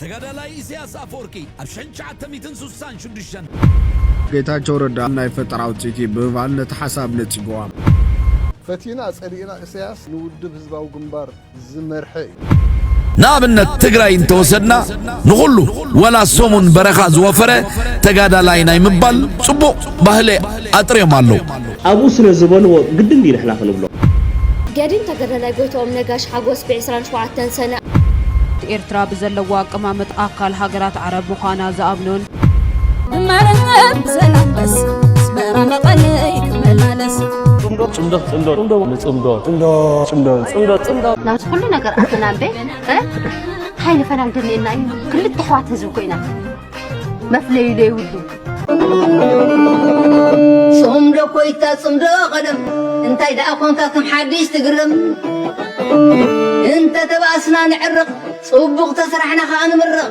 ተጋዳላይ ኢሰያስ ኣፈወርቂ ኣብ ሽሕን ትሽዓተ ሚእትን ስሳን ሽዱሽተን። ጌታቸው ረዳ ናይ ፈጠራ ውፅኢት እዩ ብምባል ነቲ ሓሳብ ነፂጉዎ። ፈቲና ፀሊእና እሰያስ ንውድብ ህዝባዊ ግንባር ዝመርሐ እዩ። ንኣብነት ትግራይ እንተወሰድና ንኹሉ ወላ ሰሙን በረኻ ዝወፈረ ተጋዳላይ ናይ ምባል ፅቡቕ ባህሊ ኣጥርዮም ኣለው። ኣብኡ ስለ ዝበልዎ ግድን ድዩ ንሕና ክንብሎ? ገዲም ተገዳላይ ጎይትኦም ነጋሽ ሓጎስ ብ ዕስራን ሸውዓተን ሰነ ብ። ኤርትራ ብዘለዋ ኣቀማምጥ ኣካል ሃገራት ዓረብ ምዃና ዝኣምኑን፣ ንመርሐ ብሰላም መስ ኣስመራ መቐለይ ክመላለስ። ጽምዶ ጽምዶ ጽምዶ ጽምዶ ንጽምዶ ጽምዶ ጽምዶ ጽምዶ ጽምዶ። ናብዚ ኩሉ ነገር ኣተና እምበይ ታይ ንፈላሊ ደሊየና እዩ ክልተ ኣሕዋት ህዝቢ ኮይና። መፍለዩ ዘይብሉ ጽምዶ ኮይታ ጽምዶ ቀደም እንታይ ደኣ ኮንካ ከም ሓድሽ ትግረም እንተ ተባእስና ንዕርቕ ጽቡቕ ተስራሕና ከኣ ንምርቕ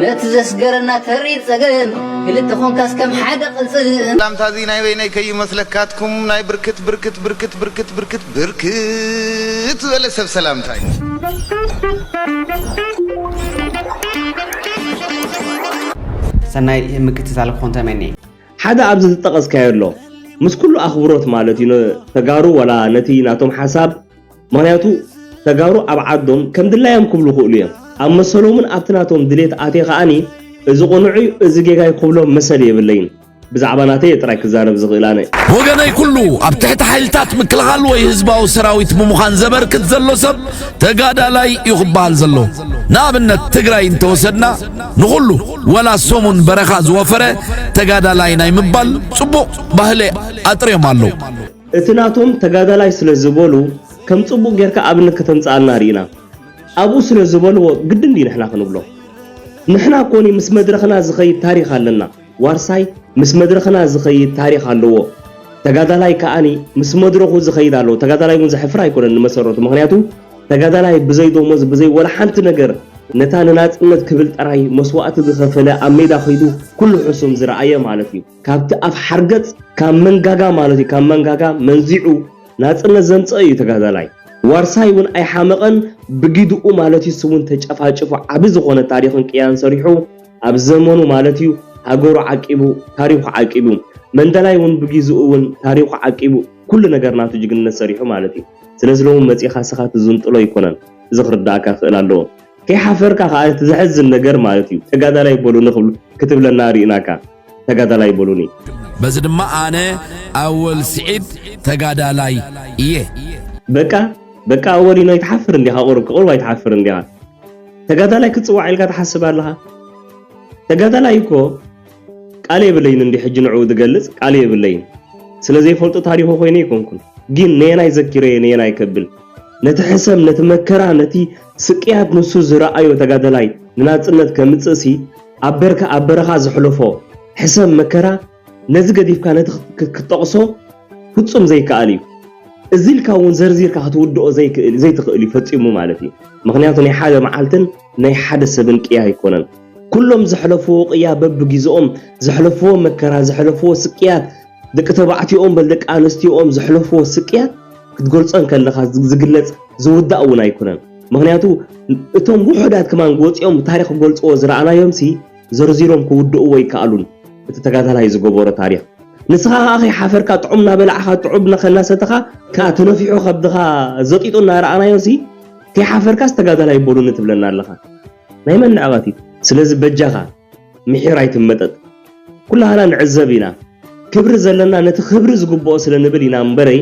ነቲ ዘስገረና ተሪር ጸገም ክልተ ኮንካስ ከም ሓደ ቅልጽም ላምታዚ ናይ በይነይ ከይመስለካትኩም ናይ ብርክት ብርክት ብርክት ብርክት ብርክት ብርክት ዝበለ ሰብ ሰላምታ እዩ። ሰናይ ምክትታል ክኾን ተመንየ። ሓደ ኣብዚ ዝጠቐስካዮ ኣሎ ምስ ኩሉ ኣኽብሮት ማለት እዩ ንተጋሩ ወላ ነቲ ናቶም ሓሳብ ምኽንያቱ ተጋሩ ኣብ ዓዶም ከም ድላዮም ክብሉ ይኽእሉ እዮም ኣብ መሰሎምን ኣብቲ ናቶም ድሌት ኣትየ ከኣ እዚ ቕኑዕዩ እዚ ጌጋዩ ክብሎም መሰል የብለይን ብዛዕባ ናተይ እየ ጥራይ ክዛረብ ዝኽእል ኣነ። ወገነይ ኩሉ ኣብ ትሕቲ ሓይልታት ምክልኻል ወይ ህዝባዊ ሰራዊት ብምዃን ዘበርክት ዘሎ ሰብ ተጋዳላይ እዩ ክበሃል ዘሎ። ንኣብነት ትግራይ እንተወሰድና ንኹሉ ወላ ሰሙን በረኻ ዝወፈረ ተጋዳላይ ናይ ምባል ጽቡቕ ባህሊ ኣጥርዮም ኣለዉ። እቲ ናቶም ተጋዳላይ ስለ ዝበሉ ከም ጽቡቕ ጌርካ ኣብነት ከተምጽኣልና ርኢና ኣብኡ ስለ ዝበልዎ ግድን ድዩ ንሕና ክንብሎ? ንሕና ኮኒ ምስ መድረኽና ዝኸይድ ታሪኽ ኣለና። ዋርሳይ ምስ መድረኽና ዝኸይድ ታሪኽ ኣለዎ ተጋዳላይ ከኣ ምስ መድረኹ ዝኸይድ ኣለዎ ተጋዳላይ ውን ዘሕፍር ኣይኮነን ንመሰረቱ ምኽንያቱ ተጋዳላይ ብዘይ ዶሞዝ ብዘይ ወላ ሓንቲ ነገር ነታ ንናጽነት ክብል ጥራይ መስዋእቲ ዝኸፈለ ኣብ ሜዳ ከይዱ ኩሉ ሕሱም ዝረኣየ ማለት እዩ ካብቲ ኣፍ ሓርገጽ ካብ መንጋጋ ማለት እዩ ካብ መንጋጋ መንዚዑ ናጽነት ዘምጸ እዩ ተጋዳላይ ዋርሳይ ውን ኣይሓመቐን ብጊድኡ ማለት እዩ ንሱ ውን ተጨፋጭፉ ዓቢ ዝኾነ ታሪኽን ቅያን ሰሪሑ ኣብ ዘመኑ ማለት እዩ ሃገሩ ዓቂቡ ታሪኹ ዓቂቡ መንደላይ እውን ብጊዝኡ እውን ታሪኹ ዓቂቡ ኩሉ ነገር ናቱ ጅግንነት ሰሪሑ ማለት እዩ ስለዚ ሎሚ መጺኻ እስኻ ትዝንጥሎ ኣይኮነን እዚ ክርዳኣካ ክእል ኣለዎ ከይሓፈርካ ከኣ እቲ ዘሕዝን ነገር ማለት እዩ ተጋዳላይ በሉኒ ክብሉ ክትብለና ርኢናካ ተጋዳላይ በሉኒ በዚ ድማ ኣነ ኣወል ስዒድ ተጋዳላይ እየ። በቃ በቃ ኣወሊኖ ኣይትሓፍርን ዲኻ ቁሩብ ክቕርብ ኣይትሓፍርን ዲኻ። ተጋዳላይ ክትጽዋዕ ኢልካ ትሓስብ ኣለኻ? ተጋዳላይ እኮ ቃል የብለይን እንዲ ሕጂ ንዕኡ ዝገልጽ ቃል የብለይን ስለ ዘይፈልጦ ታሪኹ ኮይነ ኣይኮንኩን ግን ነየናይ ዘኪረየ ነየናይ ከብል ነቲ ሕሰም ነቲ መከራ ነቲ ስቅያት ንሱ ዝረኣዮ ተጋዳላይ ንናጽነት ከምጽእሲ ኣብ በርካ ኣብ በረኻ ዘሕለፎ ሕሰም መከራ ነዚ ገዲፍካ ነቲ ክትጠቕሶ ፍጹም ዘይከኣል እዩ። እዚ ኢልካ እውን ዘርዚርካ ክትውድኦ ዘይትኽእል እዩ ፈጺሙ ማለት እዩ። ምኽንያቱ ናይ ሓደ መዓልትን ናይ ሓደ ሰብን ቅያ ኣይኮነን። ኩሎም ዘሕለፍዎ ቅያ በብጊዘኦም ዘሕለፍዎ መከራ፣ ዘሕለፍዎ ስቅያት፣ ደቂ ተባዕትዮኦም በል ደቂ ኣንስትዮኦም ዘሕለፍዎ ስቅያት ክትገልጾ እንከለኻ ዝግለጽ ዝውዳእ እውን ኣይኮነን። ምኽንያቱ እቶም ውሑዳት ከማን ወጺኦም ታሪኽ ክገልጽዎ ዝረኣናዮምሲ ዘርዚሮም ክውድእዎ ኣይከኣሉን እቲ ተጋዳላይ ዝገበሮ ታሪኽ። ንስኻ ከኣ ከይሓፈርካ ጥዑም እናበላዕኻ ጥዑብ እናሰተኻ ከኣ ተነፊሑ ከብድኻ ዘጢጡ እናረኣናዮሲ ከይሓፈርካስ ተጋዳላይ በሉኒ ትብለና ኣለኻ። ናይ መን ንዕቐት እዩ? ስለዚ በጃኻ ምሒር ኣይትመጠጥ። ኩላህና ንዕዘብ ኢና። ክብሪ ዘለና ነቲ ክብሪ ዝግብኦ ስለ ንብል ኢና እምበረይ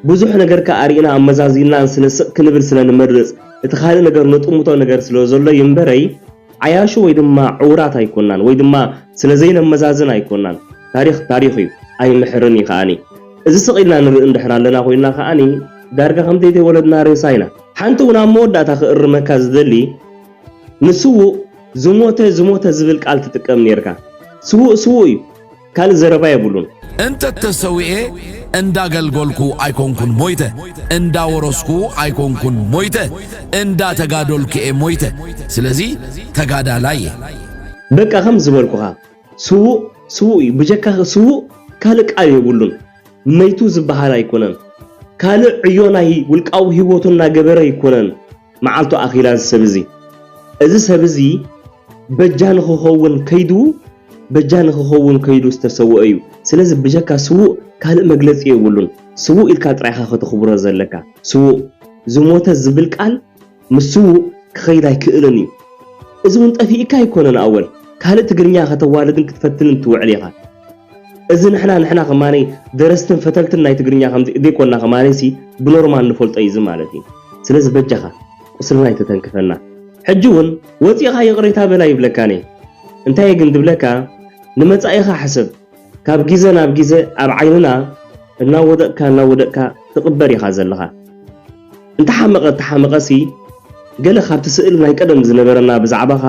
ብዙሕ ነገርካ ኣርኢና ኣመዛዚንናን ስለ ስቕ ክንብል ስለ ንመርጽ እቲ ካልእ ነገር ነጥምቶ ነገር ስለ ዘሎ እዩ እምበረይ ዓያሹ ወይ ድማ ዕውራት ኣይኮናን ወይ ድማ ስለ ዘይነመዛዝን ኣይኮናን። ታሪኽ ታሪኽ እዩ ኣይምሕርን እዩ ከኣኒ። እዚ ስቕ ኢልና ንርኢ እንድሕር ኣለና ኮይና ከኣኒ ዳርጋ ከም ዘይተወለድና ሬሳ ኢና። ሓንቲ ውን ኣብ መወዳእታ ክእርመካ ዝደሊ ንስዉእ ዝሞተ ዝሞተ ዝብል ቃል ትጥቀም ኔርካ። ስዉእ ስዉእ እዩ። ካልእ ዘረባ የብሉን። እንተ ተሰዊኤ እንዳ ገልጎልኩ ኣይኮንኩን ሞይተ እንዳ ወረስኩ ኣይኮንኩን ሞይተ እንዳ ተጋዶልኩ'የ ሞይተ ስለዚ ተጋዳላይ'የ። በቃ ከም ዝበልኩኻ ስዉእ ስዉእ እዩ ብጀካ ስዉእ ካልእ ቃል የብሉን መይቱ ዝበሃል ኣይኮነን ካልእ ዕዮ ናይ ውልቃዊ ሂወቱ እናገበረ ኣይኮነን። መዓልቱ ኣኺላ እዚ ሰብ እዚ። እዚ ሰብ እዚ በጃ ንኽኸውን ከይዱ በጃ ንኽኸውን ከይዱ ዝተሰወኦ እዩ። ስለዚ ብጀካ ስዉእ ካልእ መግለጺ የብሉን። ስዉእ ኢልካ ጥራይ ኢኻ ከተኽብሮ ዘለካ። ስዉእ። ዝሞተ ዝብል ቃል ምስ ስዉእ ክኸይድ ኣይክእልን እዩ። እዚ እውን ጠፊኡካ ኣይኮነን ኣወል። ካልእ ትግርኛ ከተዋልድን ክትፈትንን ትውዕል ኢኻ። እዚ ንሕና ንሕና ከማን ደረስትን ፈተልትን ናይ ትግርኛ ከምዚ እደይኮና ከማን ሲ ብኖርማል ንፈልጦ እዩ እዚ ማለት እዩ ስለዚ በጃካ ቁስልና ኣይተተንክፈና ሕጂ ውን ወጺእካ ይቅሬታ በል ኣይብለካን እየ እንታይ እየ ግን ድብለካ ንመጻኢካ ሕሰብ ካብ ጊዘ ናብ ጊዘ ኣብ ዓይንና እናወደቅካ እናወደቅካ ትቅበር ኢካ ዘለካ። እንተሓመቐ እንተሓመቐሲ ገለ ካብቲ ስእሊ ናይ ቀደም ዝነበረና ብዛዕባኻ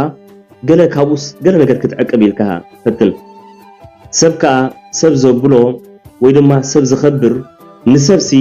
ገለ ካብኡስ ገለ ነገር ክትዕቅብ ኢልካ ፈትን። ሰብ ከኣ ሰብ ዘብሎ ወይ ድማ ሰብ ዘኸብር ንሰብሲ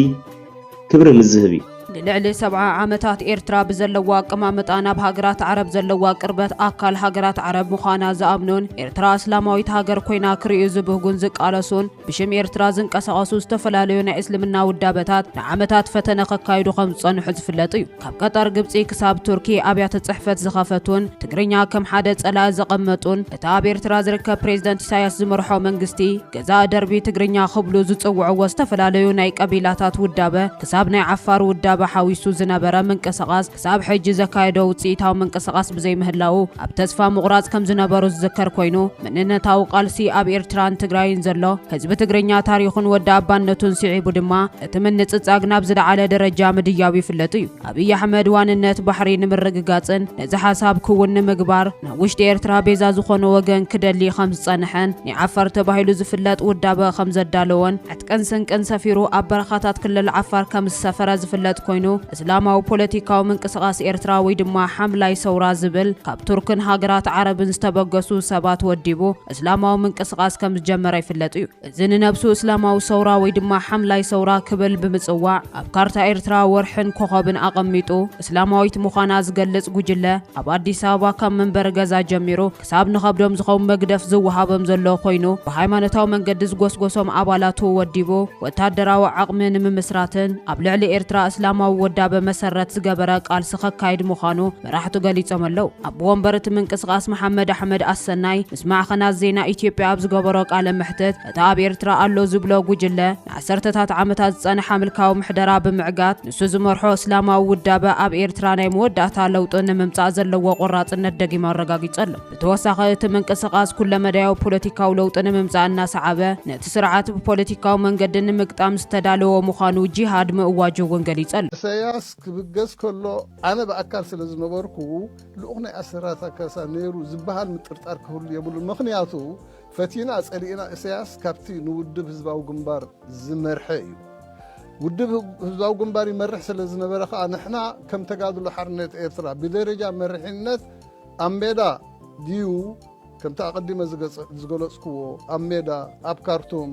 ክብሪ ምስ ዝህብ እዩ። ንልዕሊ ሰብዓ ዓመታት ኤርትራ ብዘለዋ ኣቀማምጣ ናብ ሃገራት ዓረብ ዘለዋ ቅርበት ኣካል ሃገራት ዓረብ ምዃና ዝኣምኑን ኤርትራ እስላማዊት ሃገር ኮይና ክርእዩ ዝብህጉን ዝቃለሱን ብሽም ኤርትራ ዝንቀሳቐሱ ዝተፈላለዩ ናይ እስልምና ውዳበታት ንዓመታት ፈተነ ከካይዱ ከም ዝጸንሑ ዝፍለጥ እዩ። ካብ ቀጠር ግብጺ ክሳብ ቱርኪ ኣብያተ ጽሕፈት ዝኸፈቱን ትግርኛ ከም ሓደ ጸላኢ ዘቐመጡን እቲ ኣብ ኤርትራ ዝርከብ ፕሬዝደንት ኢሳያስ ዝመርሖ መንግስቲ ገዛእ ደርቢ ትግርኛ ክብሉ ዝጽውዕዎ ዝተፈላለዩ ናይ ቀቢላታት ውዳበ ክሳብ ናይ ዓፋር ውዳበ ሓዊሱ ዝነበረ ምንቅስቓስ ክሳብ ሕጂ ዘካየዶ ውጽኢታዊ ምንቅስቓስ ብዘይምህላዉ ኣብ ተስፋ ምቑራጽ ከም ዝነበሩ ዝዝከር ኮይኑ፣ መንነታዊ ቃልሲ ኣብ ኤርትራን ትግራይን ዘሎ ህዝቢ ትግርኛ ታሪኹን ወዲ ኣባነቱን ስዒቡ ድማ እቲ ምንጽጻግ ናብ ዝለዓለ ደረጃ ምድያቡ ይፍለጥ እዩ። ኣብይ ኣሕመድ ዋንነት ባሕሪ ንምርግጋጽን ነዚ ሓሳብ ክውን ንምግባር ናብ ውሽጢ ኤርትራ ቤዛ ዝኾኖ ወገን ክደሊ ከም ዝጸንሐን ኒዓፋር ተባሂሉ ዝፍለጥ ውዳበ ከም ዘዳለዎን ዕጥቅን ስንቅን ሰፊሩ ኣብ በረኻታት ክልል ዓፋር ከም ዝሰፈረ ዝፍለጥ ኮይኑ እስላማዊ ፖለቲካዊ ምንቅስቓስ ኤርትራ ወይ ድማ ሓምላይ ሰውራ ዝብል ካብ ቱርክን ሃገራት ዓረብን ዝተበገሱ ሰባት ወዲቡ እስላማዊ ምንቅስቓስ ከም ዝጀመረ ይፍለጥ እዩ። እዚ ንነብሱ እስላማዊ ሰውራ ወይ ድማ ሓምላይ ሰውራ ክብል ብምጽዋዕ ኣብ ካርታ ኤርትራ ወርሕን ኮኾብን ኣቐሚጡ እስላማዊት ምዃና ዝገልጽ ጉጅለ ኣብ ኣዲስ ኣበባ ካብ መንበሪ ገዛ ጀሚሩ ክሳብ ንኸብዶም ዝኸውን መግደፍ ዝወሃቦም ዘሎ ኮይኑ ብሃይማኖታዊ መንገዲ ዝጎስጎሶም ኣባላቱ ወዲቡ ወታደራዊ ዓቕሚ ንምምስራትን ኣብ ልዕሊ ኤርትራ እስላማዊ ወዳበ መሰረት ዝገበረ ቃልሲ ከካይድ ምዃኑ መራሕቱ ገሊጾም ኣለው። ኣቦ ወንበር እቲ ምንቅስቓስ መሓመድ ኣሕመድ ኣሰናይ ምስ ማዕኸናት ዜና ኢትዮጵያ ኣብ ዝገበሮ ቃለ መሕትት እቲ ኣብ ኤርትራ ኣሎ ዝብሎ ጉጅለ ንዓሰርተታት ዓመታት ዝጸንሓ ምልካዊ ምሕደራ ብምዕጋት ንሱ ዝመርሖ እስላማዊ ውዳበ ኣብ ኤርትራ ናይ መወዳእታ ለውጢ ንምምጻእ ዘለዎ ቆራጽነት ደጊሙ ኣረጋጊጹ ኣሎ። ብተወሳኺ እቲ ምንቅስቓስ ኩለመዳያዊ ፖለቲካዊ ለውጢ ንምምጻእ እናሰዓበ ነቲ ስርዓት ብፖለቲካዊ መንገዲ ንምግጣም ዝተዳለወ ምዃኑ ጂሃድ ምእዋጁ እውን ገሊጹ ኣሎ። እሰያስ ክብገስ ከሎ ኣነ ብኣካል ስለ ዝነበርኩ ልኡኽ ናይ ኣሰራታ ካሳ ነይሩ ዝበሃል ምጥርጣር ክህሉ የብሉን። ምኽንያቱ ፈቲና ጸሊእና እሰያስ ካብቲ ንውድብ ህዝባዊ ግንባር ዝመርሐ እዩ ውድብ ህዝባዊ ግንባር ይመርሕ ስለ ዝነበረ ከኣ ንሕና ከም ተጋድሎ ሓርነት ኤርትራ ብደረጃ መርሒነት ኣብ ሜዳ ድዩ ከምቲ ኣቐዲመ ዝገለጽኩዎ ኣብ ሜዳ ኣብ ካርቱም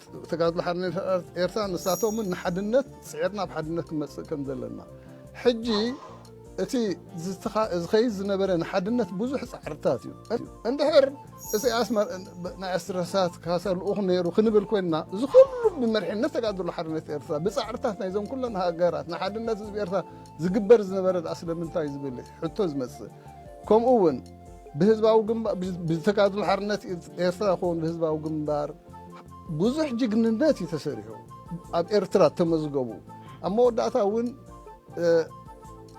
ተጋድሎ ሓርነት ኤርትራ ንሳቶምን ንሓድነት ጽዒርና ኣብ ሓድነት ክንመጽእ ከም ዘለና ሕጂ እቲ ዝኸይድ ዝነበረ ንሓድነት ብዙሕ ጻዕርታት እዩ እንድሕር እሰያስ ናይ ኣስትረሳት ካሳ ልኡኽ ነይሩ ክንብል ኮይንና እዚ ኩሉ ብመርሒነት ተጋድሎ ሓርነት ኤርትራ ብጻዕርታት ናይዞም ኩለን ሃገራት ንሓድነት ህዝቢ ኤርትራ ዝግበር ዝነበረ ድኣ ስለምንታይ ዝብል ሕቶ ዝመጽእ ከምኡ እውን ብህዝባዊ ግንባር ብተጋድሎ ሓርነት ኤርትራ ይኸውን ብህዝባዊ ግንባር ብዙሕ ጅግንነት እዩ ተሰሪሑ ኣብ ኤርትራ ተመዝገቡ ኣብ መወዳእታ እውን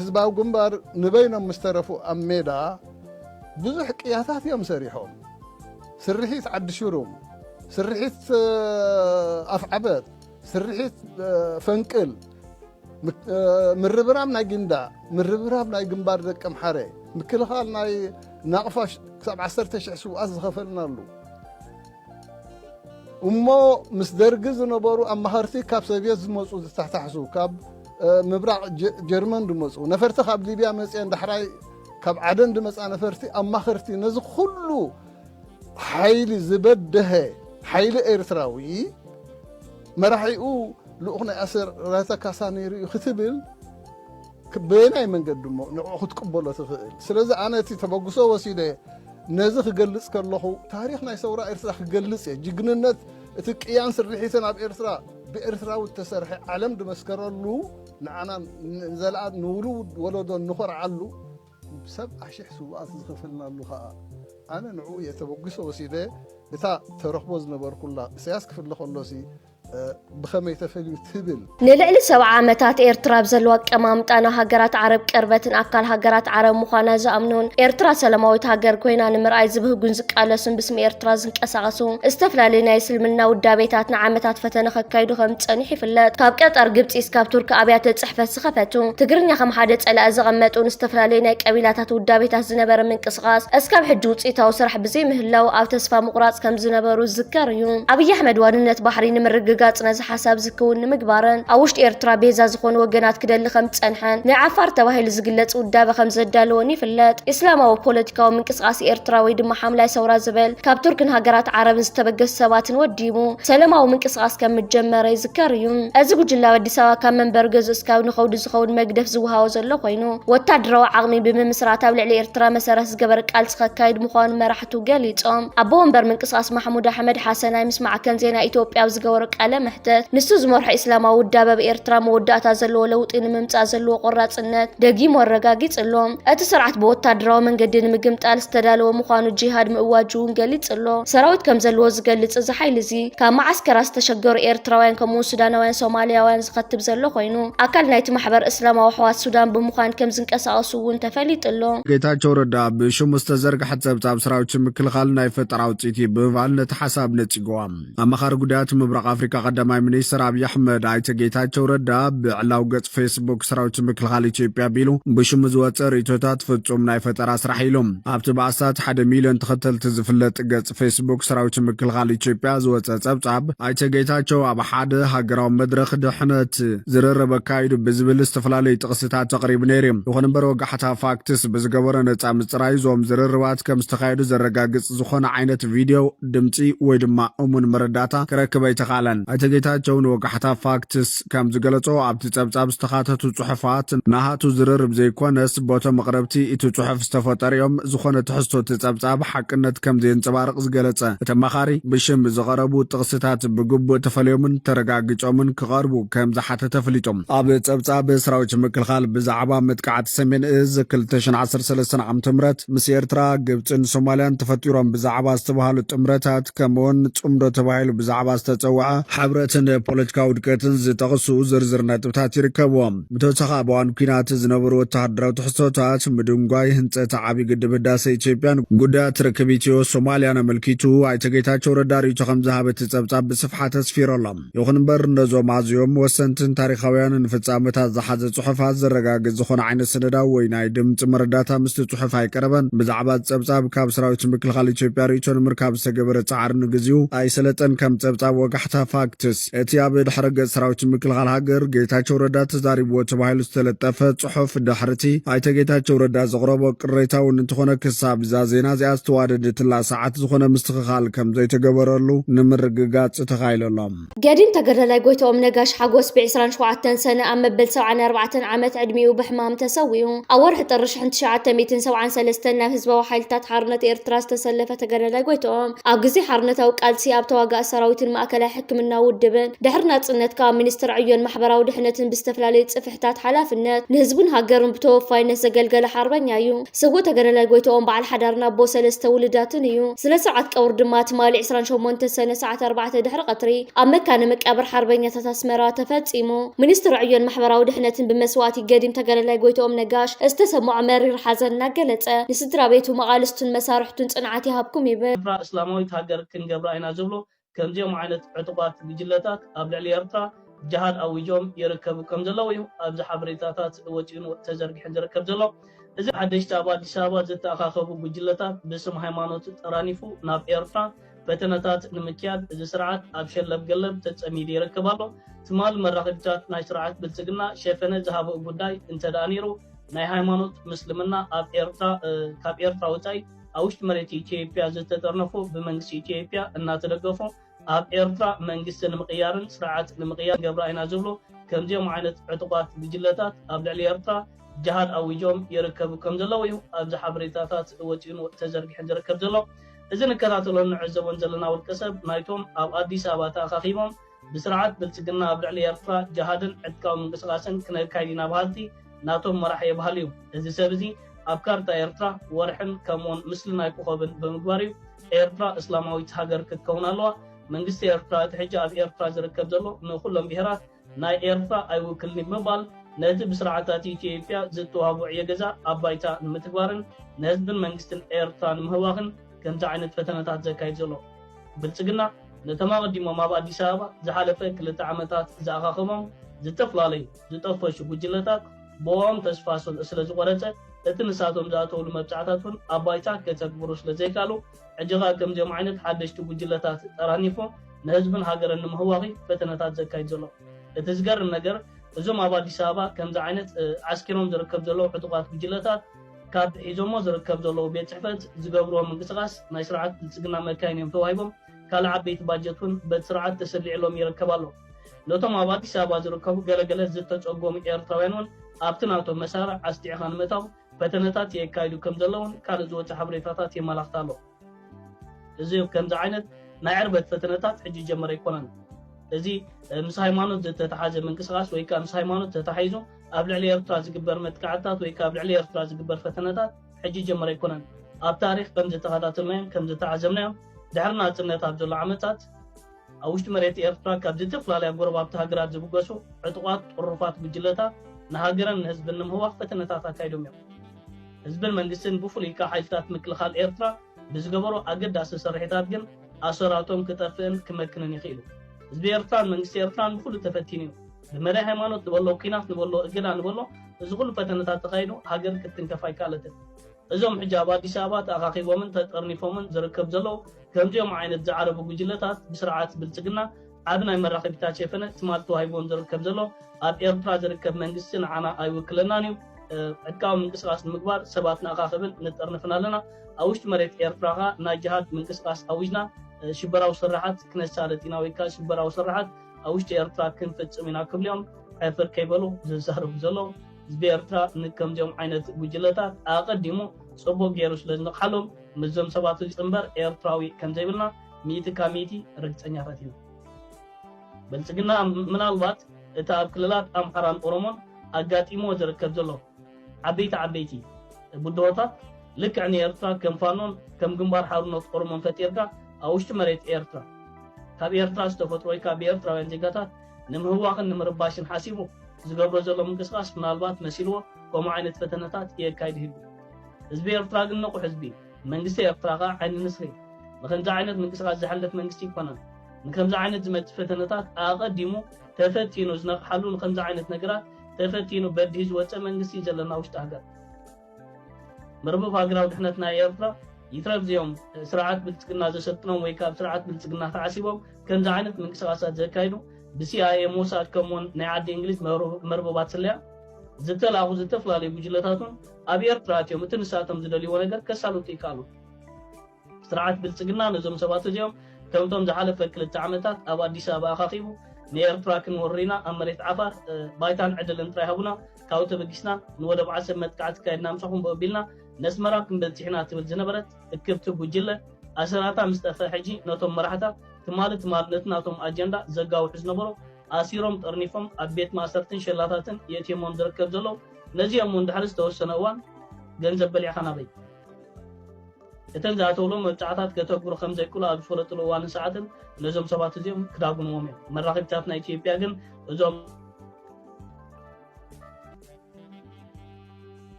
ህዝባዊ ግንባር ንበይኖም ምስ ተረፉ ኣብ ሜዳ ብዙሕ ቅያታት እዮም ሰሪሖም ስርሒት ዓዲ ሽሩም ስርሒት ኣፍዓበት ስርሒት ፈንቅል ምርብራብ ናይ ጊንዳዕ፣ ምርብራብ ናይ ግንባር ደቀምሓረ፣ ምክልኻል ናይ ናቕፋ ክሳብ ዓሰርተ ሽሕ ስውኣት ዝኸፈልናሉ እሞ ምስ ደርጊ ዝነበሩ ኣማኸርቲ ካብ ሰብየት ዝመፁ ዝተታሕሱ ካብ ምብራቕ ጀርመን ድመፁ ነፈርቲ ካብ ሊብያ መፅኤን ዳሕራይ ካብ ዓደን ድመፃ ነፈርቲ ኣማኸርቲ ነዚ ኩሉ ሓይሊ ዝበደሀ ሓይሊ ኤርትራዊ መራሒኡ ልኡኽ ናይ ኣስራተ ካሳ ነይሩ እዩ ክትብል በየናይ መንገዲ እሞ ንዕኡ ክትቅበሎ ትኽእል? ስለዚ ኣነ እቲ ተበግሶ ወሲደ ነዚ ክገልጽ ከለኹ ታሪኽ ናይ ሰውራ ኤርትራ ክገልጽ እየ። ጅግንነት እቲ ቅያን ስርሒትን ኣብ ኤርትራ ብኤርትራዊ እተሰርሐ ዓለም ዝመስከረሉ ንዓና ንዘለኣል ንውሉድ ወለዶ እንኾርዓሉ ሰብዓ ሽሕ ስውኣት ዝኸፈልናሉ ከኣ ኣነ ንዕኡ እየ ተበጒሰ ወሲደ እታ ተረኽቦ ዝነበርኩላ እሰያስ ክፍለ ከሎሲ ብኸመይ ተፈልዩ ትብል። ንልዕሊ ሰብዓ ዓመታት ኤርትራ ኣብ ዘለዋ ኣቀማምጣ ናብ ሃገራት ዓረብ ቅርበትን ኣካል ሃገራት ዓረብ ምዃና ዝኣምኑን ኤርትራ ሰላማዊት ሃገር ኮይና ንምርኣይ ዝብህጉን ዝቃለሱን ብስሚ ኤርትራ ዝንቀሳቐሱ ዝተፈላለዩ ናይ እስልምና ውዳቤታት ንዓመታት ፈተነ ከካይዱ ከም ዝጸኒሑ ይፍለጥ። ካብ ቀጠር፣ ግብጺ እስካብ ቱርኪ ኣብያተ ጽሕፈት ዝኸፈቱ፣ ትግርኛ ከም ሓደ ጸላኢ ዘቐመጡ፣ ንዝተፈላለዩ ናይ ቀቢላታት ውዳቤታት ዝነበረ ምንቅስቓስ እስካብ ሕጂ ውጽኢታዊ ስራሕ ብዘይምህላዉ ኣብ ተስፋ ምቑራጽ ከም ዝነበሩ ዝዝከር እዩ። ኣብይ ኣሕመድ ዋንነት ባሕሪ ንምርግጋጽ ነዚ ሓሳብ እዚ ክዉን ንምግባርን ኣብ ውሽጢ ኤርትራ ቤዛ ዝኾኑ ወገናት ክደሊ ከም ዝጸንሐን ናይ ዓፋር ተባሂሉ ዝግለጽ ውዳበ ከም ዘዳለወን ይፍለጥ። እስላማዊ ፖለቲካዊ ምንቅስቓስ ኤርትራ ወይ ድማ ሓምላይ ሰውራ ዝብል ካብ ቱርክን ሃገራት ዓረብን ዝተበገሱ ሰባትን ወዲቡ ሰለማዊ ምንቅስቓስ ከም ምጀመረ ይዝከር እዩ። እዚ ጉጅለ ኣብ ኣዲስ ኣበባ ካብ መንበሪ ገዝኡ እስካብ ንከውዲ ዝኸውን መግደፍ ዝወሃቦ ዘሎ ኮይኑ፣ ወታደራዊ ዓቕሚ ብምምስራት ኣብ ልዕሊ ኤርትራ መሰረት ዝገበረ ቃልሲ ከካይድ ምዃኑ መራሕቱ ገሊጾም። ኣቦ ወንበር ምንቅስቓስ ማሕሙድ ኣሕመድ ሓሰን ኣይ ምስ ማዕከን ዜና ኢትዮጵያ ኣብ ዝገበሮ ቃለ መሕተት፣ ንሱ ዝመርሖ ኢስላማዊ ውዳበ ኣብ ኤርትራ መወዳእታ ዘለዎ ለውጢ ንምምጻእ ዘለዎ ቆራጽነት ደጊሙ ኣረጋጊጽ ኣሎ። እቲ ስርዓት ብወታደራዊ መንገዲ ንምግምጣል ዝተዳለወ ምዃኑ ጂሃድ ምእዋጁ'ውን ገሊጹ ኣሎ። ሰራዊት ከም ዘለዎ ዝገልጽ እዚ ሓይሊ እዚ፣ ካብ መዓስከራት ዝተሸገሩ ኤርትራውያን ከምኡ'ውን ሱዳናውያን ሶማሊያውያን ዝኸትብ ዘሎ ኮይኑ፣ ኣካል ናይቲ ማሕበር እስላማዊ ኣሕዋት ሱዳን ብምዃን ከም ዝንቀሳቐሱ'ውን ተፈሊጡ ኣሎ። ጌታቸው ረዳ ብሽሙ ዝተዘርግሐ ጸብጻብ ሰራዊት ምክልኻል ናይ ፈጠራ ውጽኢት እዩ ብምባል ነቲ ሓሳብ ነጺግዎ። ኣማኻሪ ጉዳያት ምብራቕ ኣፍሪካ ቀዳማይ ሚኒስትር ኣብዪ ኣሕመድ ኣይተ ጌታቸው ረዳ ብዕላው ገጽ ፌስቡክ ሰራዊት ምክልኻል ኢትዮጵያ ቢሉ ብሽሙ ዝወፀ ርእቶታት ፍጹም ናይ ፈጠራ ስራሕ ኢሎም ኣብቲ ብኣስታት ሓደ ሚልዮን ተኸተልቲ ዝፍለጥ ገጽ ፌስቡክ ሰራዊት ምክልኻል ኢትዮጵያ ዝወፀ ጸብጻብ ኣይተ ጌታቸው ኣብ ሓደ ሃገራዊ መድረኽ ድሕነት ዝርርብ ኣካይዱ ብዝብል ዝተፈላለዩ ጥቕስታት ተቕሪቡ ነይሩ ይኹን እምበር ወጋሕታ ፋክትስ ብዝገበሮ ነፃ ምፅራይ ዞም ዝርርባት ከም ዝተኻየዱ ዘረጋግፅ ዝኾነ ዓይነት ቪድዮ፣ ድምጺ ወይ ድማ እሙን መረዳእታ ክረክብ ኣይተኻእለን። ኣይተ ጌታቸው ንወጋሕታ ፋክትስ ከም ዝገለጾ፣ ኣብቲ ጸብጻብ ዝተኻተቱ ጽሑፋት ናሃቱ ዝርርብ ዘይኮነስ ቦቶም ኣቕረብቲ እቲ ጽሑፍ ዝተፈጠሩ'ዮም፣ ዝኾነ ትሕዝቶ እቲ ጸብጻብ ሓቅነት ከም ዘየንጸባርቕ ዝገለጸ እቲ ኣማኻሪ፣ ብሽም ዝቐረቡ ጥቕስታት ብግቡእ ተፈልዮምን ተረጋጊጾምን ክቐርቡ ከም ዝሓተተ ኣፍሊጡ። ኣብ ጸብጻብ ሰራዊት ምክልኻል ብዛዕባ መጥቃዕቲ ሰሜን እዝ ክልተ ሽሕን ዓሰርተ ሰለስተን ዓመተ ምህረት፣ ጥምረት ምስ ኤርትራ፣ ግብጽን ሶማልያን ተፈጢሮም ብዛዕባ ዝተባህሉ ጥምረታት ከምኡውን ጽምዶ ተባሂሉ ብዛዕባ ዝተጸውዐ ሕብረትን ፖለቲካዊ ውድቀትን ዝጠቕሱ ዝርዝር ነጥብታት ይርከብዎም። ብተወሳኺ ኣብ እዋን ኲናት ዝነበሩ ወተሃደራዊ ትሕዝቶታት፣ ምድንጓይ ህንጸት ዓብዪ ግድብ ህዳሰ ኢትዮጵያን ጉዳያት ርክብ ኢትዮ ሶማልያን ኣመልኪቱ ኣይተ ጌታቸው ረዳ ርእይቶ ከምዝሃበ እቲ ጸብጻብ ብስፍሓት ኣስፊሩ ኣሎ። ይኹን እምበር ነዞም ኣዝዮም ወሰንትን ታሪኻውያንን ፍጻመታት ዝሓዘ ጽሑፋት ዘረጋግጽ ዝኾነ ዓይነት ሰነዳዊ ወይ ናይ ድምጺ መረዳእታ ምስቲ ጽሑፍ ኣይቀረበን። ብዛዕባ እቲ ጸብጻብ ካብ ሰራዊት ምክልኻል ኢትዮጵያ ርእይቶ ንምርካብ ዝተገበረ ጻዕሪ ንግዚኡ ኣይሰለጠን። ከም ጸብጻብ ወጋሕታ፣ ፋክትስ፣ እቲ ኣብ ድሕረ ገጽ ሰራዊት ምክልኻል ሃገር ጌታቸው ረዳ ተዛሪብዎ ተባሂሉ ዝተለጠፈ ጽሑፍ ድሕሪ'ቲ ኣይተ ጌታቸው ረዳ ዘቕረቦ ቅሬታ እውን እንተኾነ ክሳብ እዛ ዜና እዚኣ ዝተዋደደትላ ሰዓት ዝኾነ ምስትኽኻል ከምዘይተገበረሉ ንምርግጋጽ ተኻኢሉ ኣሎ። ገዲም ተገዳላይ ጎይትኦም ነጋሽ ሓጎስ ብ ዕስራን ሸውዓተን ሰነ ኣብ መበል ሰብዓን ኣርባዕተን ዓመት ዕድሚኡ ብሕማም ተሰዊኡ። ኣብ ወርሒ ጥሪ ሽሕን ትሽዓተ ሚእትን ሰብዓን ሰለስተን ናብ ህዝባዊ ሓይልታት ሓርነት ኤርትራ ዝተሰለፈ ተገዳላይ ጎይትኦም ኣብ ግዜ ሓርነታዊ ቃልሲ ኣብ ተዋጋኢ ሰራዊትን ማእከላይ ሕክምናዊ ውድብን ድሕሪ ናጽነት ከኣ ሚኒስትር ዕዮን ማሕበራዊ ድሕነትን ብዝተፈላለዩ ጽፍሕ ብትሕታት ሓላፍነት ንህዝቡን ሃገሩን ብተወፋይነት ዘገልገለ ሓርበኛ እዩ። ስውእ ተገዳላይ ጎይትኦም በዓል ሓዳርን ኣቦ ሰለስተ ውሉዳትን እዩ። ስነ ስርዓት ቀብሩ ድማ ትማሊ ዕስራን ሸሞንተን ሰነ ሰዓት ኣርባዕተ ድሕሪ ቐትሪ ኣብ መካነ መቃብር ሓርበኛታት ኣስመራ ተፈጺሙ። ሚኒስትሪ ዕዮን ማሕበራዊ ድሕነትን ብመስዋእቲ ገዲም ተጋዳላይ ጎይትኦም ነጋሽ ዝተሰምዖ መሪር ሓዘን እናገለጸ ንስድራቤቱ፣ መቓልስቱን መሳርሕቱን ጽንዓት ይሃብኩም ይብል። ኤርትራ እስላማዊት ሃገር ክንገብራ ኢና ዝብሉ ከምዚኦም ዓይነት ዕጡቓት ጉጅለታት ኣብ ልዕሊ ኤርትራ ጃሃድ ኣዊጆም ይርከቡ ከምዘለዉ'ዩ ኣብዚ ሓበሬታታት ወጺኡን ተዘርጊሑን ዝርከብ ዘሎ። እዚ ሓደሽቲ ኣብ ኣዲስ ኣበባ ዝተኣኻኸቡ ጉጅለታት ብስም ሃይማኖት ጠራኒፉ ናብ ኤርትራ ፈተነታት ንምክያድ እዚ ስርዓት ኣብ ሸለብ ገለብ ተጸሚዱ ይርከብ ኣሎ። ትማል መራኸቢታት ናይ ስርዓት ብልጽግና ሸፈነ ዝሃበኡ ጉዳይ እንተደኣ ነይሩ ናይ ሃይማኖት ምስልምና ኣብ ኤርትራ ካብ ኤርትራ ወጻኢ ኣብ ውሽጢ መሬት ኢትዮጵያ ዝተጠርነፉ ብመንግስቲ ኢትዮጵያ እናተደገፉ ኣብ ኤርትራ መንግስቲ ንምቕያርን ስርዓት ንምቕያር ንገብራ ኢና ዝብሉ ከምዚኦም ዓይነት ዕጡቓት ጉጅለታት ኣብ ልዕሊ ኤርትራ ጀሃድ ኣዊጆም ይርከቡ ከም ዘለዉ እዩ ኣብዚ ሓበሬታታት ወጺኡን ተዘርጊሑን ዝርከብ ዘሎ። እዚ ንከታተሎን ንዕዘቦን ዘለና ውልቀሰብ ናይቶም ኣብ ኣዲስ ኣበባ ተኣኻኺቦም ብስርዓት ብልጽግና ኣብ ልዕሊ ኤርትራ ጀሃድን ዕጥቃዊ ምንቅስቓስን ክነካይድ ኢና በሃልቲ ናቶም መራሒ የብሃል'ዩ። እዚ ሰብ እዚ ኣብ ካርታ ኤርትራ ወርሕን ከምኡውን ምስሊ ናይ ኮኾብን ብምግባር'ዩ ኤርትራ እስላማዊት ሃገር ክትከውን ኣለዋ መንግስቲ ኤርትራ እቲ ሕጂ ኣብ ኤርትራ ዝርከብ ዘሎ ንኹሎም ብሄራት ናይ ኤርትራ ኣይውክልን'ዩ ብምባል ነቲ ብስርዓታት ኢትዮጵያ ዝተዋህቦ ዕዮ ገዛ ኣብ ባይታ ንምትግባርን ንህዝብን መንግስትን ኤርትራ ንምህዋኽን ከምዚ ዓይነት ፈተነታት ዘካይድ ዘሎ። ብልጽግና። ነቶም ኣቐዲሞም ኣብ ኣዲስ ኣበባ ዝሓለፈ ክልተ ዓመታት ዝኣኻኸቦም ዝተፈላለዩ ዝጠፈሹ ጉጅለታት ብኦኦም ተስፋ ስለ ዝቖረጸ እቲ ንሳቶም ዝኣተውሉ መብጽዓታት እውን ኣብ ባይታ ከተግብሩ ስለ ዘይካሉ ሕጂ ከኣ ከምዚኦም ዓይነት ሓደሽቲ ጉጅለታት ጠራኒፉ ንህዝብን ሃገርን ንምህዋኺ ፈተነታት ዘካይድ ዘሎ እቲ ዝገርም ነገር እዞም ኣብ ኣዲስ ኣበባ ከምዚ ዓይነት ዓስኪሮም ዝርከብ ዘለዉ ዕጡቓት ጉጅለታት ካብቲ ሒዞሞ ዝርከብ ዘለዉ ቤት ጽሕፈት ዝገብርዎ ምንቅስቓስ ናይ ስርዓት ብልጽግና መካይን እዮም ተዋሂቦም፣ ካልእ ዓበይቲ ባጀት እውን በቲ ስርዓት ተሰሊዕሎም ይርከብ ኣሎ። ነቶም ኣብ ኣዲስ ኣበባ ዝርከቡ ገለ ገለ ዝተጸጎሙ ኤርትራውያን እውን ኣብቲ ናቶም መሳርዕ ኣስጢዕኻ ንምእታው ፈተነታት የካይዱ ከምዘለዉን ካልእ ዝወጸ ሓበሬታታት የመላኽት ኣሎ። እዚ ከምዚ ዓይነት ናይ ዕርበት ፈተነታት ሕጂ ዝጀመረ ኣይኮነን። እዚ ምስ ሃይማኖት ዝተተሓዘ ምንቅስቓስ ወይ ከኣ ምስ ሃይማኖት ተታሒዙ ኣብ ልዕሊ ኤርትራ ዝግበር መጥቃዕትታት ወይ ከኣ ኣብ ልዕሊ ኤርትራ ዝግበር ፈተነታት ሕጂ ዝጀመረ ኣይኮነን። ኣብ ታሪኽ ከም ዝተኸታተልናዮን ከም ዝተዓዘብናዮን ድሕሪ ናጽነት ኣብ ዘሎ ዓመታት፣ ኣብ ውሽጢ መሬት ኤርትራ ካብ ዝተፈላለያ ጎረባብቲ ሃገራት ዝብገሱ ዕጡቓት ጥሩፋት ጉጅለታት ንሃገርን ንህዝብን ንምህዋኽ ፈተነታት ኣካይዶም እዮም። ህዝብን መንግስትን ብፍሉይ ከኣ ሓይልታት ምክልኻል ኤርትራ ብዝገበሮ ኣገዳሲ ስርሒታት ግን ኣሰራቶም ክጠፍእን ክመክንን ይኽኢሉ። ህዝቢ ኤርትራን መንግስቲ ኤርትራን ብኹሉ ተፈቲኑ እዩ። ብመዳይ ሃይማኖት ንበሎ ኩናት ንበሎ እገዳ ንበሎ እዚ ኩሉ ፈተነታት ተኻይዱ ሃገር ክትትንከፍ ኣይከኣለትን። እዞም ሕጂ ኣብ ኣዲስ ኣበባ ተኣኻኺቦምን ተጠርኒፎምን ዝርከቡ ዘለዉ ከምዚኦም ዓይነት ዝዓረቡ ጉጅለታት ብስርዓት ብልጽግና ዓቢ ናይ መራኸቢታት ሸፈነ ትማል ተዋሂብዎም ዝርከብ ዘሎ ኣብ ኤርትራ ዝርከብ መንግስቲ ንዓና ኣይውክለናን እዩ ዕጥቃዊ ምንቅስቃስ ንምግባር ሰባት ንኣኻኽብን ንጠርንፍን ኣለና ኣብ ውሽጢ መሬት ኤርትራ ከኣ ናይ ጅሃድ ምንቅስቃስ ኣዊጅና ሽበራዊ ስርሓት ክነሳልጥ ኢና ወይከኣ ሽበራዊ ስርሓት ኣብ ውሽጢ ኤርትራ ክንፍጽም ኢና ክብሉ እዮም ዕፍር ከይበሉ ዝዛረቡ ዘለዉ ህዝቢ ኤርትራ ንከምዚኦም ዓይነት ጉጅለታት ኣቐዲሙ ጽቡቕ ገይሩ ስለ ዝነቕሓሎም ምስዞም ሰባት እዚ እምበር ኤርትራዊ ከምዘይብልና ሚእቲ ካብ ሚእቲ ርግጸኛታት ኢና። ብልጽግና ምናልባት እቲ ኣብ ክልላት ኣምሓራን ኦሮሞን ኣጋጢምዎ ዝርከብ ዘሎ ዓበይቲ ዓበይቲ ብድሆታት ልክዕ ንኤርትራ ከም ፋኖን ከም ግንባር ሓርኖት ኦሮሞን ፈጢርካ ኣብ ውሽጢ መሬት ኤርትራ ካብ ኤርትራ ዝተፈጥሮ ወይ ከኣ ብኤርትራውያን ዜጋታት ንምህዋኽን ንምርባሽን ሓሲቡ ዝገብሮ ዘሎ ምንቅስቓስ ምናልባት መሲልዎ ከምኡ ዓይነት ፈተነታት የካይድ ይህሉ። ህዝቢ ኤርትራ ግን ንቑሕ ህዝቢ እዩ። መንግስቲ ኤርትራ ከኣ ዓይኒ ንስሪ እዩ። ንኸምዚ ዓይነት ምንቅስቓስ ዝሕለፍ መንግስቲ ኣይኮነን። ንከምዚ ዓይነት ዝመጽእ ፈተነታት ኣቐዲሙ ተፈቲኑ ዝነቕሓሉ ንኸምዚ ዓይነት ነገራት ተፈቲኑ በዲሁ ዝወጸ መንግስቲ እዩ ዘለና ውሽጢ ሃገር። መርበብ ሃገራዊ ድሕነት ናይ ኤርትራ ይትረፍ እዚኦም ስርዓት ብልጽግና ዘሰልጥኖም ወይ ካብ ስርዓት ብልጽግና ተዓሲቦም ከምዚ ዓይነት ምንቅስቓሳት ዘካይዱ ብሲኣይኤ ሞሳድ ከምኡውን ናይ ዓዲ እንግሊዝ መርበባት ስለያ ዝተላእኹ ዝተፈላለዩ ጉጅለታት እውን ኣብ ኤርትራ ኣትዮም እቲ ንሳቶም ዝደልይዎ ነገር ከሳልጡ ይከኣሉ። ስርዓት ብልጽግና ነዞም ሰባት እዚኦም ከምቶም ዝሓለፈ ክልተ ዓመታት ኣብ ኣዲስ ኣበባ ኣኻኺቡ ንኤርትራ ክንወርር ኢና ኣብ መሬት ዓፋር ባይታን ዕድልን ጥራይ ሃቡና ካብኡ ተበጊስና ንወደብ ዓሰብ መጥቃዕቲ ኣካይድና ምሳኹም ብኡ ኣቢልና ነስመራ ክንበጽሕ ኢና ትብል ዝነበረት እክብቲ ጉጅለ ኣሰራታ ምስ ጠፍኣ ሕጂ ነቶም መራሕታ ትማሊ ትማሊ ነቲ ናቶም ኣጀንዳ ዘጋውሑ ዝነበሩ ኣሲሮም ጠርኒፎም ኣብ ቤት ማእሰርትን ሸላታትን የእትዮሞም ዝርከብ ዘለዉ ነዚ እዮም እውን ድሕሪ ዝተወሰነ እዋን ገንዘብ በሊዕካ ናበይ? እተን ዝኣተውሎም መብጽዓታት ከተግብሩ ከም ዘይክእሉ ኣብ ዝፈለጥሉ እዋንን ሰዓትን ነዞም ሰባት እዚኦም ክዳጉንዎም እዮም። መራኸቢታትና ኢትዮጵያ ግን እዞም።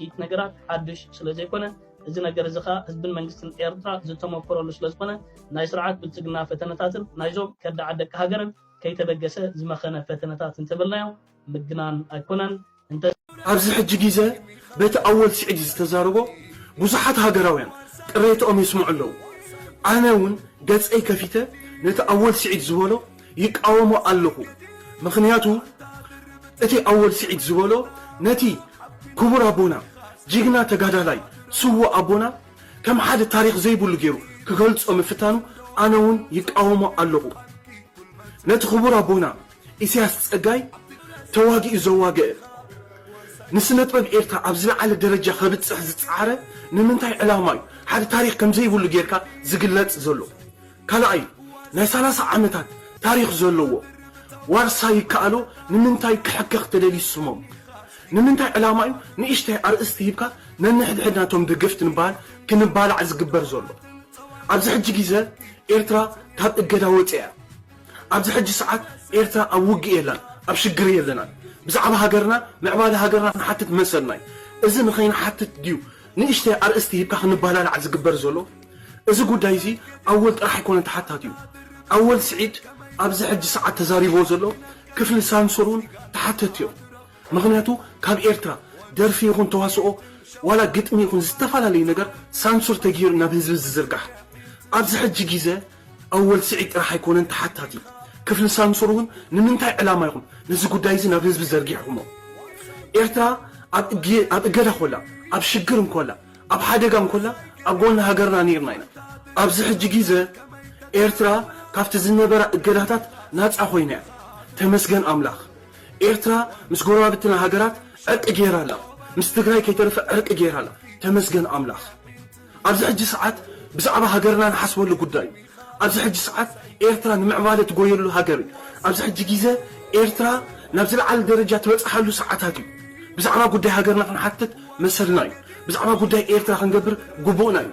እቲ ነገራት ሓድሽ ስለ ዘይኮነ እዚ ነገር እዚ ከዓ ህዝብን መንግስትን ኤርትራ ዝተመኮረሉ ስለ ዝኾነ ናይ ስርዓት ብልፅግና ፈተነታትን ናይዞም ከዳዓት ደቂ ሃገርን ከይተበገሰ ዝመኸነ ፈተነታት እንተበልናዮ ምግናን ኣይኮነን እንተ ኣብዚ ሕጂ ጊዘ በቲ ኣወል ሲዒድ ዝተዛረቦ ብዙሓት ሃገራውያን ቅሬትኦም የስምዑ ኣለዉ ኣነ ውን ገጸይ ከፊተ ነቲ ኣወል ሲዒድ ዝበሎ ይቃወሞ ኣለኹ ምኽንያቱ እቲ ኣወል ሲዒድ ዝበሎ ነቲ ኩቡር ኣቦና ጂግና ተጋዳላይ ስዉእ ኣቦና ከም ሓደ ታሪኽ ዘይብሉ ጌሩ ክገልጾ ምፍታኑ ኣነ ውን ይቃወሞ ኣለኹ ነቲ ኩቡር ኣቦና ኢሰያስ ጸጋይ ተዋጊኡ ዘዋገእ ንስነጥበብ ኤርትራ ኣብ ዝለዓለ ደረጃ ከብጽሕ ዝጸዓረ ንምንታይ ዕላማ እዩ ሓደ ታሪኽ ከምዘይብሉ ጌርካ ዝግለጽ ዘሎ ካላኣይ ናይ ሰላሳ ዓመታት ታሪኽ ዘለዎ ዋርሳይ ይከኣሎ ንምንታይ ክሕከኽ ተደልዩ ስሞም ንምንታይ ዕላማ እዩ ንእሽተይ ኣርእስቲ ሂብካ ነንሕድሕድና እቶም ደገፍቲ ንበሃል ክንባላዕ ዝግበር ዘሎ ኣብዚ ሕጂ ጊዘ ኤርትራ ካብ እገዳ ወጽያ ኣብዚ ሕጂ ሰዓት ኤርትራ ኣብ ውግእ የላን ኣብ ሽግር የለናን ብዛዕባ ሃገርና ምዕባለ ሃገርና ክንሓትት መሰልናዩ እዚ ንኸይንሓትት ድዩ ንእሽተይ ኣርእስቲ ሂብካ ክንባላላዕ ዝግበር ዘሎ እዚ ጉዳይዚ ኣወል ጥራሕ ኣይኮነን ተሓታቲዩ ኣወል ስዒድ ኣብዚ ሕጂ ሰዓት ተዛሪብዎ ዘሎ ክፍሊ ሳንሱር ውን ተሓተትቲዮም ምኽንያቱ ካብ ኤርትራ ደርፊ ይኹን ተዋስኦ ዋላ ግጥሚ ይኹን ዝተፋላለዩ ነገር ሳንሱር ተጌሩ ናብ ህዝቢ ዝዝርጋሕ ኣብዚ ሕጂ ጊዘ ኣወል ስዒድ ጥራሕ ኣይኮነን ተሓታቲ፣ ክፍሊ ሳምሶር እውን ንምንታይ ዕላማ ኢኹም ነዚ ጉዳይ እዚ ናብ ህዝቢ ዘርጊሕኹሞ? ኤርትራ ኣብ እገዳ ኮላ፣ ኣብ ሽግር እንኮላ፣ ኣብ ሓደጋ እንኮላ ኣብ ጎኒ ሃገርና ነይርና ኢና። ኣብዚ ሕጂ ጊዘ ኤርትራ ካብቲ ዝነበራ እገዳታት ናጻ ኮይና እያ። ተመስገን ኣምላኽ። ኤርትራ ምስ ጎረባብትና ሃገራት ዕርቂ ገይራ ኣላ፣ ምስ ትግራይ ከይተረፈ ዕርቂ ገይራ ኣላ። ተመስገን ኣምላኽ። ኣብዚ ሕጂ ሰዓት ብዛዕባ ሃገርና ንሓስበሉ ጉዳይ እዩ። ኣብዚ ሕጂ ሰዓት ኤርትራ ንምዕባለ ትጎየሉ ሃገር እዩ። ኣብዚ ሕጂ ጊዘ ኤርትራ ናብ ዝለዓለ ደረጃ ትበጽሓሉ ሰዓታት እዩ። ብዛዕባ ጉዳይ ሃገርና ክንሓትት መሰልና እዩ። ብዛዕባ ጉዳይ ኤርትራ ክንገብር ጉቡእና እዩ።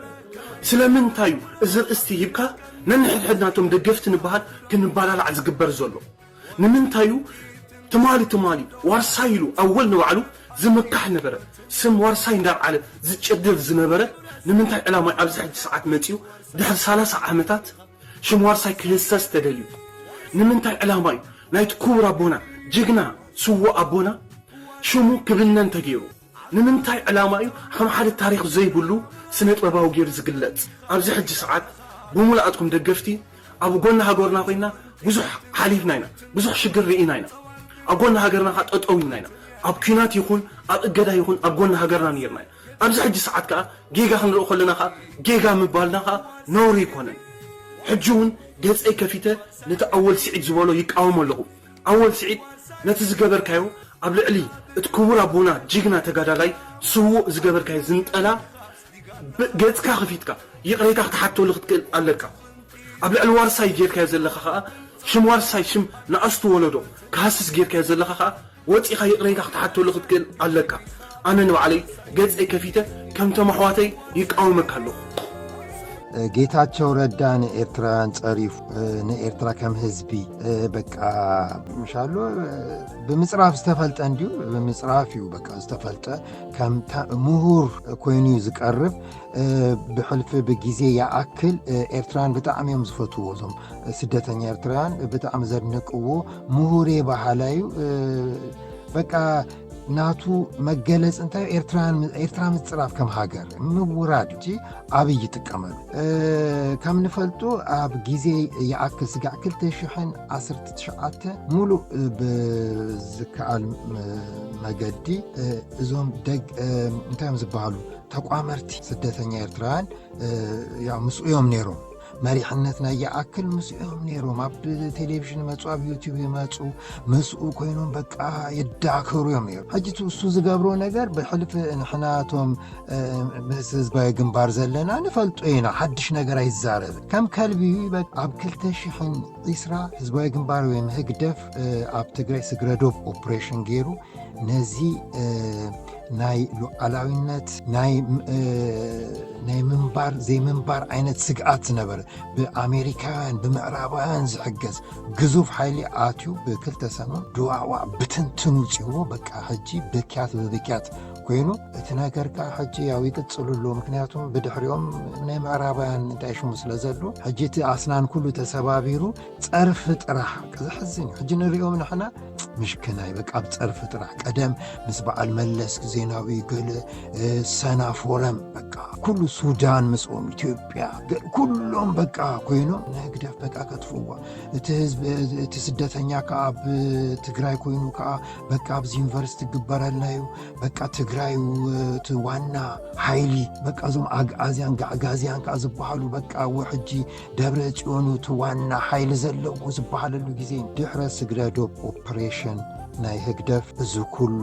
ስለምንታይ እዩ እዚ ርእስቲ ሂብካ ነንሕድሕድና እቶም ደገፍቲ ንበሃል ክንባላላዕ ዝግበር ዘሎ? ንምንታይ እዩ ትማሊ ትማሊ ዋርሳይ ኢሉ ኣወል ንባዕሉ ዝምካሕ ነበረ ስም ዋርሳይ እንዳልዓለ ዝጭድር ዝነበረ ንምንታይ ዕላማይ ኣብዚ ሕጂ ሰዓት መጺኡ ድሕሪ ሰላሳ ዓመታት ሽም ዋርሳይ ክህሰስ ተደልዩ ንምንታይ ዕላማ እዩ ናይቲ ኩቡር ኣቦና ጅግና ስዉእ ኣቦና ሽሙ ክብነን ተገይሩ። ንምንታይ ዕላማ እዩ ከም ሓደ ታሪኽ ዘይብሉ ስነጥበባዊ ጌሩ ዝግለጽ? ኣብዚ ሕጂ ሰዓት ብሙሉኣትኩም ደገፍቲ ኣብ ጎኒ ሃገርና ኮይና ብዙሕ ሓሊፍና ኢና ብዙሕ ሽግር ርኢና ኢና ኣብ ጎኒ ሃገርና ከኣ ጠጠው ኢልና ኢና ኣብ ኩናት ይኹን ኣብ እገዳ ይኹን ኣብ ጎኒ ሃገርና ኔርና ኢና ኣብዚ ሕጂ ሰዓት ከኣ ጌጋ ክንርኢ ከለና ከኣ ጌጋ ምባልና ከኣ ነውሪ ኣይኮነን ሕጂ ውን ገጸይ ከፊተ ነቲ ኣወል ሲዒድ ዝበሎ ይቃወሞ ኣለኹ ኣወል ስዒድ ነቲ ዝገበርካዮ ኣብ ልዕሊ እቲ ክቡር ኣቦና ጅግና ተጋዳላይ ስዉእ ዝገበርካዮ ዝንጠላ ብ ገጽካ ከፊትካ ይቅሬታ ክትሓተሉ ክትክእል ኣለካ ኣብ ልዕሊ ዋርሳይ ጌርካዮ ዘለካ ከኣ ሽም ዋርሳይ ሽም ንኣሽቱ ወለዶ ክሃስስ ጌርካዮ ዘለካ ከኣ ወጺካ ይቅሬታ ክትሓተሉ ክትክእል ኣለካ ኣነ ንባዕለይ ገጸይ ከፊተ ከምቶም ኣሕዋተይ ይቃወመካ ኣለኹ። ጌታቸው ረዳ ንኤርትራውያን ጸሪፉ ንኤርትራ ከም ህዝቢ በቃ ምሻሎ ብምፅራፍ ዝተፈልጠ እንዲዩ ብምፅራፍ እዩ በቃ ዝተፈልጠ ከም ምሁር ኮይኑ እዩ ዝቀርብ ብሕልፊ ብግዜ ይኣክል ኤርትራውያን ብጣዕሚ እዮም ዝፈትዎ እዞም ስደተኛ ኤርትራውያን ብጣዕሚ ዘድንቅዎ ምሁር በሃላ እዩ በቃ ናቱ መገለፅ እንታይ ኤርትራ ምፅራፍ ከም ሃገር ምውራድ እቲ ኣብይ ይጥቀመሉ ከም ንፈልጡ ኣብ ግዜ ይኣክል ስጋዕ 219 ሙሉእ ብዝከኣል መገዲ እዞም ደግ እንታይ እዮም ዝበሃሉ ተቋመርቲ ስደተኛ ኤርትራውያን ምስኡዮም ነይሮም መሪሕነት ናይ ይኣክል ምስኦም ነይሮም ኣብ ቴሌቭዥን መፁ ኣብ ዩቲብ ይመፁ ምስኡ ኮይኖም በቃ ይዳከሩ እዮም ነይሩ ሕጂ እሱ ዝገብሮ ነገር ብሕልፊ ንሕናቶም ምስ ህዝባዊ ግንባር ዘለና ንፈልጦ ኢና ሓድሽ ነገር ኣይዛረብ ከም ከልቢ ኣብ 220 ህዝባዊ ግንባር ወይም ህግደፍ ኣብ ትግራይ ስግረዶብ ኦፕሬሽን ገይሩ ነዚ ናይ ሉዓላዊነት ናይ ምንባር ዘይምንባር ዓይነት ስግኣት ዝነበረ ብኣሜሪካውያን ብምዕራባውያን ዝሕገዝ ግዙፍ ሓይሊ ኣትዩ ብክልተ ሰሙን ድዋዕዋ ብትንትኑ ውፅዎ በቃ ሕጂ ብክያት ብብክያት ኮይኑ እቲ ነገር ከዓ ሕጂ ያው ይቅፅሉ ኣሎ ምክንያቱም ብድሕሪኦም ናይ ምዕራባውያን እንታይ ሽሙ ስለ ዘሎ ሕጂ እቲ ኣስናን ኩሉ ተሰባቢሩ ፀርፊ ጥራሕ ዘሕዝን ሕጂ ንሪኦም ንሕና ምሽክናይ በቃ ኣብ ፀርፊ ጥራሕ ቀደም ምስ በዓል መለስ ዜናዊ ገለ ሰና ፎረም በቃ ኩሉ ሱዳን ምስኦም ኢትዮጵያ ኩሎም በቃ ኮይኖም ንህግደፍ በቃ ከጥፍዋ እቲ ህዝቢ እቲ ስደተኛ ከዓ ኣብ ትግራይ ኮይኑ ከዓ በቃ ኣብዚ ዩኒቨርሲቲ ግበረልና እዩ በቃ ትግራይ እቲ ዋና ሓይሊ በቃ እዞም ኣግኣዝያን ጋዕጋዝያን ከዓ ዝበሃሉ በቃ ሕጂ ደብረ ጽዮን እቲ ዋና ሓይሊ ዘለዎ ዝበሃለሉ ግዜ ድሕረ ስግረ ዶብ ኦፕሬሽን ናይ ህግደፍ እዚ ኩሉ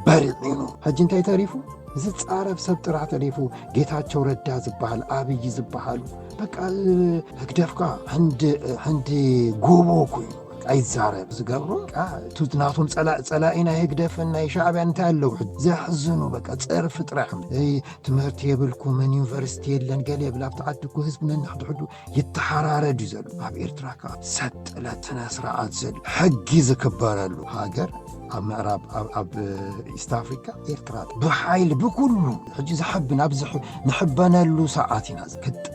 በሪዒኑ ሕጂ እንታይ ተሪፉ ዝፃረፍ ሰብ ጥራሕ ተሪፉ ጌታቸው ረዳ ዝበሃል ኣብይ ዝበሃሉ በቃ ህግደፍካ ሕንዲ ጎቦ ኮይኑ ኣይዛረብ ዝገብሩ ናቶም ፀላኢ ናይ ህግደፍን ናይ ሻዕብያ እንታይ ኣለዉ ዘሕዝኑ በቃ ፀርፊ ጥራሕ ትምህርቲ የብልኩምን ዩኒቨርሲቲ የለን ገለ የብል ኣብቲ ዓዲ እኮ ህዝቢ ነንሕድሕዱ ይተሓራረድ እዩ ዘሎ ኣብ ኤርትራ ከዓ ሰጥለት ስነ ስርዓት ዘሎ ሕጊ ዝክበረሉ ሃገር ኣብ ምዕራብ ኣብ ኢስት ኣፍሪካ ኤርትራ ብሓይሊ ብኩሉ ሕጂ ዝሕብን ኣብዚ ንሕበነሉ ሰዓት ኢና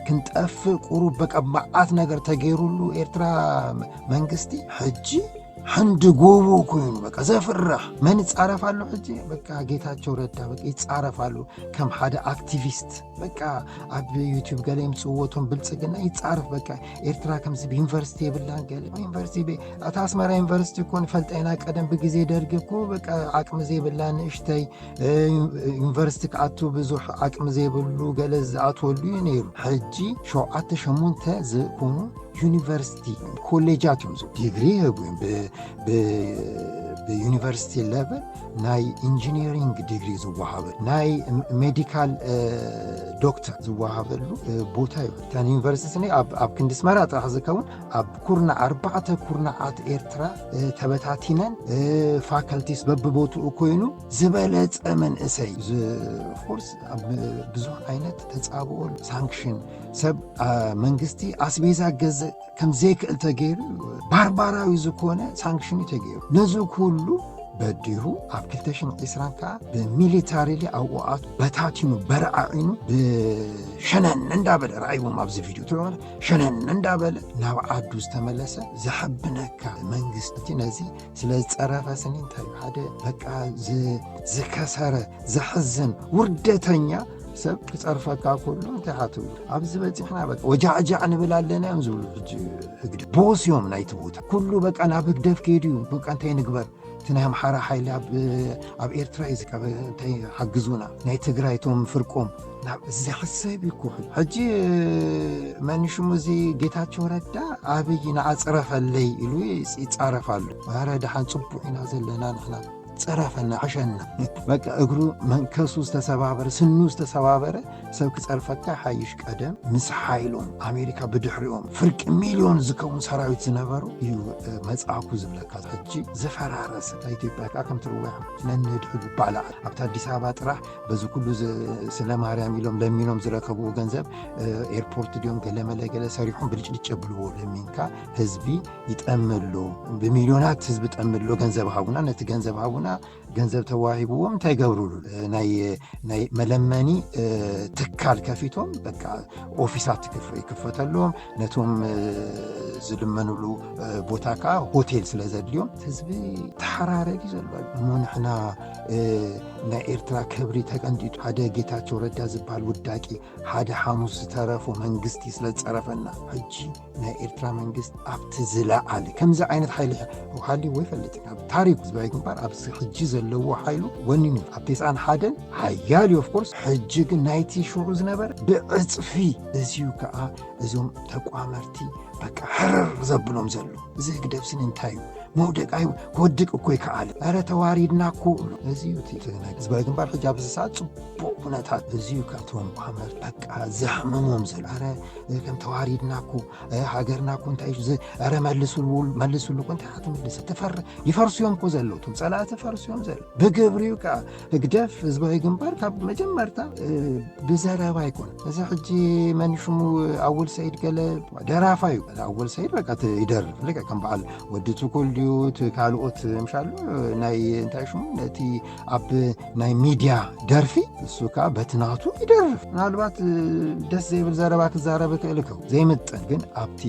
ክንጠፍእ ቁሩብ በቃ መዓት ነገር ተገይሩሉ ኤርትራ መንግስቲ ሕጂ ሕንዲ ጎቦ ኮይኑ በቃ ዘፍርሕ መን ይፃረፍ ኣሎ ሕጂ በቃ ጌታቸው ረዳ በቃ ይፃረፍ ኣሎ ከም ሓደ ኣክቲቪስት በቃ ኣብ ዩቲብ ገለ የምፅዎቶም ብልፅግና ይፃረፍ በቃ ኤርትራ ከምዚ ብዩኒቨርሲቲ የብላን ገለ ዩኒቨርሲቲ ኣታ ኣስመራ ዩኒቨርሲቲ እኮ ንፈልጠ ኢና ቀደም ብግዜ ደርጊ እኮ በቃ ዓቅሚ ዘይብላ ንእሽተይ ዩኒቨርሲቲ ክኣቱ ብዙሕ ዓቅሚ ዘይብሉ ገለ ዝኣትወሉ እዩ ነይሩ ሕጂ ሸውዓተ ሸሞንተ ዝኾኑ ዩኒቨርሲቲ ኮሌጃት እዮም ዲግሪ ይህቡ እዮም ብዩኒቨርሲቲ ለቨል ናይ ኢንጂኒሪንግ ዲግሪ ዝወሃበ ናይ ሜዲካል ዶክተር ዝወሃበሉ ቦታ እዩ እተን ዩኒቨርሲቲ ነ ኣብ ክንዲ ስመራ ጥራሕ ዝከውን ኣብ ኩርና ኣርባዕተ ኩርናዓት ኤርትራ ተበታቲነን ፋካልቲስ በብቦትኡ ኮይኑ ዝበለፀ መንእሰይ ፎርስ ብዙሕ ዓይነት ተፃብኦ ሳንክሽን ሰብ መንግስቲ ኣስቤዛ ገዝእ ከም ዘይክእል ተገይሩ ባርባራዊ ዝኾነ ሳንክሽን እዩ ተገይሩ ነዚ ኩሉ በዲሁ ኣብ 220 ከዓ ብሚሊታሪሊ ኣብኡኣት በታቲኑ በረዓዒኑ ብሸነን እንዳበለ ረኣይዎም ኣብዚ ቪድዮ ትለዋለ ሸነን እንዳበለ ናብ ዓዱ ዝተመለሰ ዘሐብነካ መንግስቲ ነዚ ስለ ዝፀረፈ ስኒ እንታይ ሓደ በቃ ዝከሰረ ዘሕዝን ውርደተኛ ሰብ ክፀርፈካ ከሎ እንታይ ሓትብ ኣብዚ በፂሕና በ ወጃዕጃዕ ንብል ኣለና እዮም ዝብሉ ሕጂ ህግደ ቦስ እዮም ናይቲ ቦታ ኩሉ በቃ ናብ ህግደፍ ከይዱ እዩ በቃ እንታይ ንግበር እቲ ናይ ኣምሓራ ሓይሊ ኣብ ኤርትራ እዩ ዝካበ እንታይ ሓግዙና ናይ ትግራይ እቶም ፍርቆም ናብ ዝሕሰብ እዩ ኩሑ ሕጂ መንሽሙ እዚ ጌታቸው ረዳ ኣብይ ንዓፅረፈለይ ኢሉ ይፃረፍ ኣሎ ኣረ ድሓን ፅቡቅ ኢና ዘለና ንሕና ጸረፈና ዕሸና በቃ እግሩ መንከሱ ዝተሰባበረ ስኑ ዝተሰባበረ ሰብ ክጸርፈካ ሓይሽ ቀደም ምስ ሓይሎም ኣሜሪካ ብድሕሪኦም ፍርቂ ሚልዮን ዝከውን ሰራዊት ዝነበሩ እዩ መጽኣኩ ዝብለካ ሕጂ ዝፈራረሰ ኢትዮጵያ ከዓ ከም ትርዋያ ነንህድ ሕሉ ባላዓት ኣብቲ ኣዲስ ኣበባ ጥራሕ በዚ ኩሉ ስለ ማርያም ኢሎም ለሚኖም ዝረከብዎ ገንዘብ ኤርፖርት ድዮም ገለመለ ገለ ሰሪሖም ብልጭልጭ የብልዎ ለሚንካ ህዝቢ ይጠምሎ ብሚልዮናት ህዝቢ ጠምሎ ገንዘብ ሃቡና ነቲ ገንዘብ ሃቡና ገንዘብ ተዋሂብዎም እንታይ ገብርሉ ናይ መለመኒ ትካል ከፊቶም በቃ ኦፊሳት ይክፈተሎም ነቶም ዝልመንሉ ቦታ ከዓ ሆቴል ስለ ዘድልዮም ህዝቢ ተሓራረድ እዩ ዘሎ እሞ ንሕና ናይ ኤርትራ ክብሪ ተቀንጢጡ ሓደ ጌታቸው ረዳ ዝበሃል ውዳቂ ሓደ ሓሙስ ዝተረፉ መንግስቲ ስለ ዝፀረፈና ሕጂ ናይ ኤርትራ መንግስት ኣብቲ ዝለዓለ ከምዚ ዓይነት ሓይሊ ሃልይዎ ይፈልጥን ኣብ ታሪክ ህዝባዊ ግንባር ኣብዚ ሕጂ ዘለዎ ሓይሉ ወኒኑ ኣብ ቴስዓን ሓደን ሓያል እዩ ኦፍኮርስ ሕጂ ግን ናይቲ ሽዑ ዝነበረ ብዕፅፊ እዚዩ ከዓ እዞም ተቋመርቲ በቃ ሕርር ዘብሎም ዘሎ እዚ ህግደፍስን እንታይ እዩ መውደቅ ኣይ ክወድቅ እኮ ይከኣል ኧረ ተዋሪድና እኮ እዚ እዩ እቲ ናይ ህዝባዊ ግንባር ሕጂ ኣብዚ ሰዓት ፅቡቅ ኩነታት እዚ እዩ ካብቶም ቋመር በቃ ዘሕምሞም ዘሎ ኧረ ከም ተዋሪድና እኮ ሃገርና እኮ እንታይ እዩ ኧረ መልስሉ መልስሉ እኮ እንታይ ክትምልስ ትፈር ይፈርሱ እዮም እኮ ዘለዉ እቶም ፀላእቲ ፈርሱ እዮም ዘለዉ ብግብሪ እዩ ከዓ ህግደፍ ህዝባዊ ግንባር ካብ መጀመርታ ብዘረባ ይኮነ እዚ ሕጂ መን ሽሙ ኣወል ሰይድ ገለ ደራፋ እዩ ኣወል ሰይድ በቃ ይደርፍ ልቀ ከም በዓል ወዲ ትኩል ድዩ ካልኦት ምሻሉ ናይ እንታይ ሽሙ ነቲ ኣብ ናይ ሚድያ ደርፊ ንሱ ከዓ በቲ ናቱ ይደርፍ ምናልባት ደስ ዘይብል ዘረባ ክዛረብ ክእል ከው ዘይምጥን ግን ኣብቲ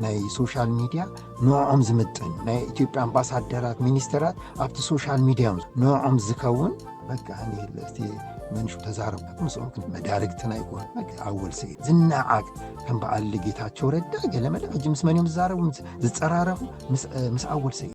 ናይ ሶሻል ሚድያ ንዕኦም ዝምጥን ናይ ኢትዮጵያ ኣምባሳደራት ሚኒስተራት ኣብቲ ሶሻል ሚድያ ንዕኦም ዝከውን በቃ እቲ መንሹ ተዛረብ ምስኦም ክን መዳርግትና ይኮን ኣወል ስዒ ዝነዓቅ ከም በዓል ጌታቸው ረዳ ገለመለ ሕጂ ምስ መን እዮም ዝዛረቡ ዝፀራረፉ ምስ ኣወል ስዒ